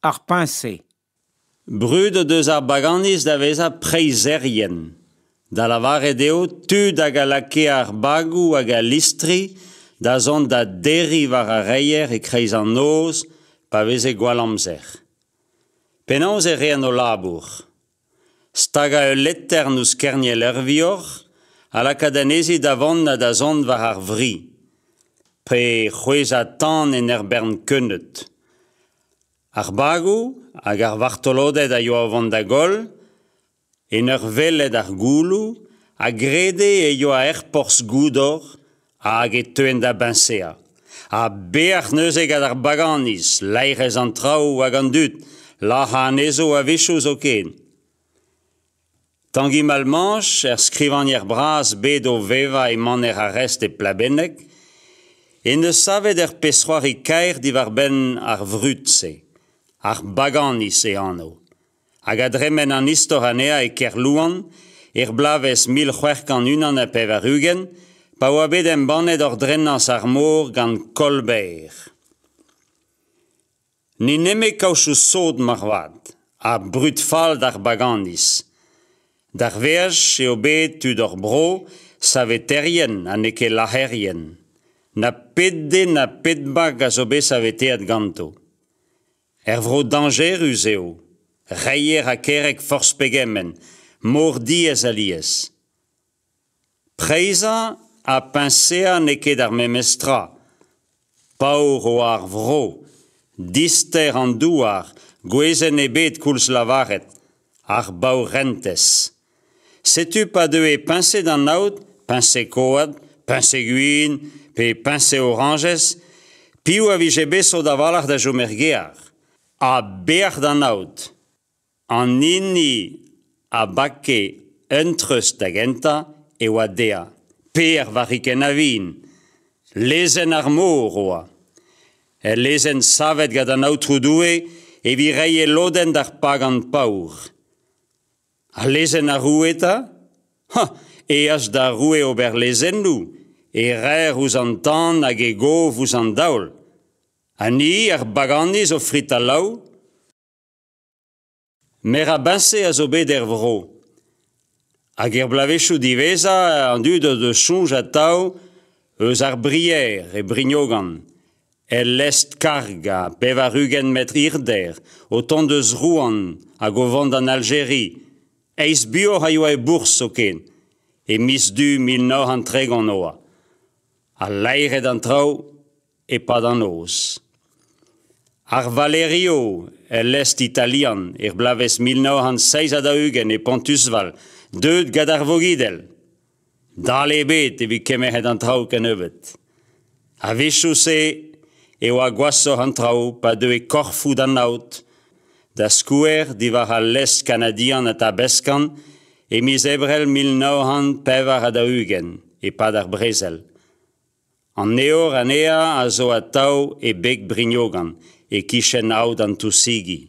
Ar peñse. Brudet eus ar baganiz da vezañ preizherien, da lavaret eo tud hag a lakae ar bagoù hag al listri da zont da derriñ war ar reier e-kreiz an noz pa veze gwall amzer. Penaos e reent o labour ? Stagañ ul letern ouzh kerniel Ervor ha lakaat anezhe da vont ha da zont war ar vri. Pe c'hwezhañ tan en ur bern keuneud. Ar bagoù hag ar vartoloded a yoa o vont da goll, en ur welet ar gouloù, a grede e yoa er porzh goudor hag e teuent da biñsañ. Ha beac'h neuze gant ar baganiz, laerezh an traoù hag an dud, lac'hañ anezho a-wechoù zoken. Tangi Malmanche, er skrivagner bras bet o vevañ e maner Arrest e Plabenneg, en deus savet ur pezh-c'hoari kaer diwar-benn ar vrud-se, ar baganiz e anv. hag a dremen an istor anezhañ e Kerlouan er bloavezh mil c'hwec'h kant unan ha pevar-ugent pa oa bet embannet ordrenañs ar mor gant Kolber. Ni neme kaochoù sod moarvat, ha brud-fall d'ar baganiz. D'ar veaj eo bet tud hor bro saveterien ha n'eo ket lac'herien. Na pet den na pet bag a zo bet saveteet ganto. Er vro dañjerus eo, reier ha kerreg forzh pegement, mor diaes alies. Preizhañ ha peñseañ n'eo ket ar memes tra. Paour eo ar vro, dister an douar, gwezenn ebet koulz lavaret, ar baourentez. Setu pa deue peñsed an aod, peñsed koad, peñsed gwin pe peñsed orañjez, piv a vije bet sot a-walc'h da chom er gear? Ha beac'h d'an aod! An hini a bake un treuz da gentañ e oa dezhañ, Per varrikenn a-vin. Lezenn ar mor e oa. El lezenn savet gant an Aotrou Doue evit reiñ e lodenn d'ar pagan paour. Al lezenn ar roue 'ta ? hañ ! eas d'ar roue ober lezennoù, e raer ouzh an tan hag e gov ouzh an daol. Ha ni, ar baganiz, o fritañ-laou. Merabiñse a zo bet er vro. Hag er bloavezhioù diwezhañ an dud o deus soñj atav eus ar Brier e Brignogan. El lestr-kargañ, pevar-ugent metr hirder, o tont eus Rouen hag o vont d'an Aljeri, eizh buoc'h a yoa e bourzh zoken, e miz Du mil nav c'hant tregont e oa. Al laeret an traoù e-pad an noz. Ar Valerio, el lestr italian, er bloavezh mil nav c'hant seizh ha daou-ugent e Pontusval, deuet gant ar Vogidel. Dale ebet evit kemeret an traoù kennebeut. A-wechoù-se e oa gwashoc'h an traoù pa deue korfoù d'an aod, da skouer diwar al lez kanadian Atabaskan e miz Ebrel mil nav c'hant pevar ha daou-ugent e-pad ar brezel. An evor anezhañ a zo atav e beg Brignogan, e-kichen aod an Tousigi.